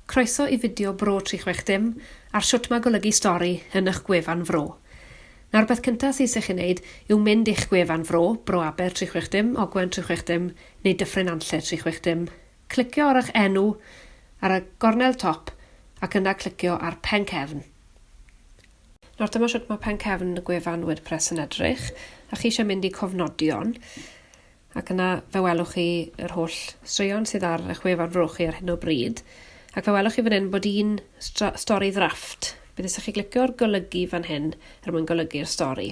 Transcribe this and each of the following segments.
Croeso i fideo Bro 360 ar shwt mae golygu stori yn ych gwefan Fro. Nawr peth cynta sydd isych chi wneud yw mynd i'ch gwefan Fro, Bro Aber 360, Ogwen 360 neu Dyffryn Nantlle 360, clicio ar ych enw ar y gornel top ac yna clicio ar Pen Cefn. Nawr dyma shwt mae Pen Cefn y gwefan WordPress yn edrych a chi eisiau mynd i Cofnodion, Ac yna, fe welwch chi yr holl straeon sydd ar eich wefan Fro chi ar hyn o bryd. Ac fe welwch chi fan hyn bod un stori ddrafft. Bydd eisiau chi glicio'r golygu fan hyn er mwyn golygu'r stori.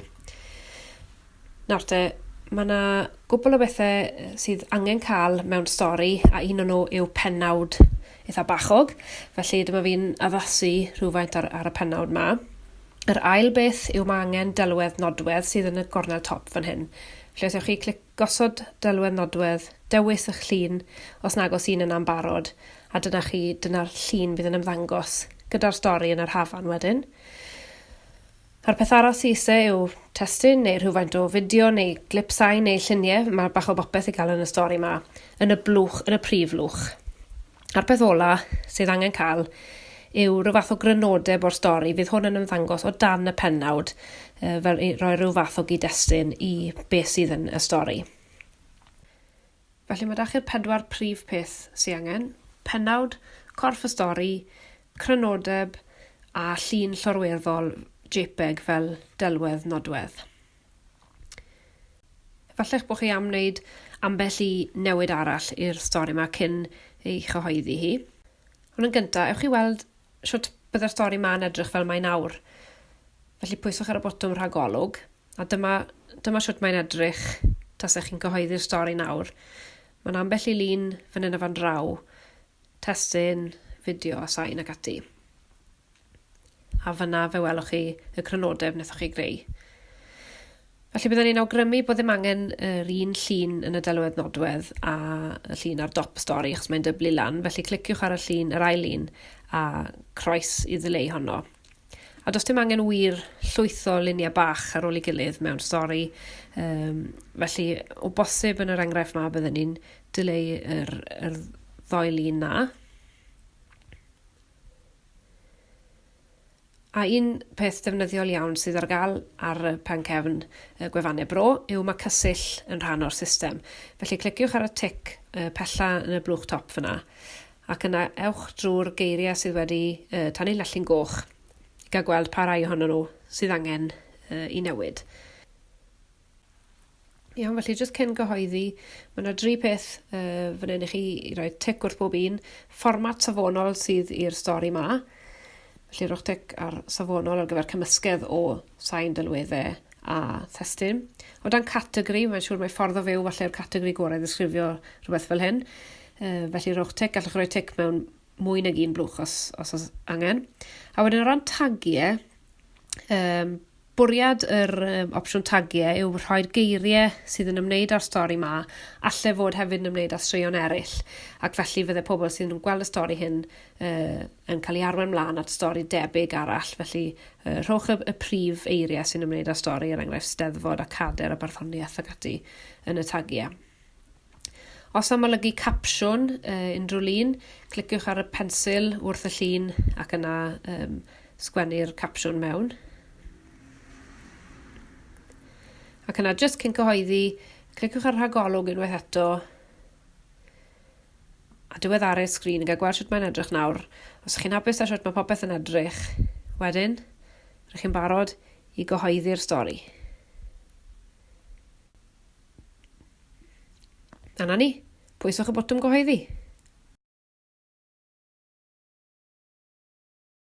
Nawr te, mae yna gwbl o bethau sydd angen cael mewn stori a un o'n nhw yw penawd eitha bachog. Felly dyma fi'n addasu rhywfaint ar, ar y penawd ma. Yr ail beth yw ma' angen delwedd nodwedd sydd yn y gornel top fan hyn. Felly os ewch chi clic gosod delwedd nodwedd, dewis ych llun os nag oes un yna'n barod, a dyna chi, dyna'r llun fydd yn ymddangos gyda'r stori yn yr hafan wedyn. A'r peth arall sy'n ise yw testun neu rhywfaint o fideo neu glip sain neu lluniau, mae bach o bopeth i gael yn y stori yma, yn y blwch, yn y prif lwch. A'r peth ola sydd angen cael yw rhyw fath o grynodeb o'r stori. Fydd hwn yn ymddangos o dan y pennawd, uh, fel i roi rhyw fath o gyd-destun i beth sydd yn y stori. Felly mae da chi'r pedwar prif peth sy'n angen. Penawd, corff y stori, crynodeb a llun llorweddol JPEG fel delwedd nodwedd. Efalla'ch bod chi am wneud ambell i newid arall i'r stori yma cyn ei chyhoeddi hi. Ond yn gyntaf, ewch i weld sut byddai'r stori ma'n edrych fel mae nawr. Felly pwyswch ar y botwm rhagolwg, a dyma, dyma sut mae'n edrych tasech chi'n cyhoeddi'r stori nawr. Mae'n ambell i lun fan hyn a fan draw, testyn, fideo a sain ac ati. A fanna fe welwch chi y crynodeb wnaethoch chi greu. Felly byddwn ni'n awgrymu bod ddim angen yr un llun yn y delwedd nodwedd a y llun ar dop y stori achos mae'n dyblu lan, felly cliciwch ar y llun, yr ail un, a croes i ddileu honno. A does dim angen wir llwyth o luniau bach ar ôl ei gilydd mewn stori. Um, felly, o bosib yn yr enghraifft ma, byddwn ni'n dileu yr, yr ddoi lun na. A un peth defnyddiol iawn sydd ar gael ar y pen cefn y gwefannau bro yw mae Cysill yn rhan o'r system. Felly cliciwch ar y tic uh, pella yn y blwch top fyna, ac yna ewch drwy'r geiriau sydd wedi uh, tannu lellyn goch i gael gweld pa rai ohonyn nhw sydd angen uh, i newid. Iawn felly jyst cyn gyhoeddi ma' 'na dri peth yy fan 'yn i chi i roi tic wrth bob un. Fformat safonol sydd i'r stori 'ma. Felly rhowch tic ar safonol ar gyfer cymysgedd o sain delwedde a thestun. O dan categori mae'n siŵr mae ffordd o fyw falle'r categori gorau i ddisgrifio rhywbeth fel hyn. Yy felly rhowch tic gallwch roi tic mewn mwy nag un blwch os os o's angen. A wedyn o ran tagie yym Bwriad yr yym opsiwn tagie yw rhoi'r geirie sydd yn ymwneud â'r stori 'ma alle fod hefyd yn ymwneud â straeon eryll ac felly fydde pobl sydd yn gweld y stori hyn yy yn cael ei arwain mlan at stori debyg arall felly yy rhowch y, y prif eirie sy'n ymwneud â'r stori er enghraifft Steddfod a Cader a Barddoniaeth ac ati yn y tagie. Os am olygu capsiwn yy unrhyw lun cliciwch ar y pensil wrth y llun ac yna yym sgwennu'r capsiwn mewn. Ac yna jyst cyn cyhoeddi cliciwch ar rhagolwg unwaith eto a diweddaru'r sgrin i gael gweld sut mae'n edrych nawr. Os chi'n hapus â sut mae popeth yn edrych wedyn rydych chi'n barod i gyhoeddi'r stori. A na ni. Pwyswch y botwm gyhoeddi.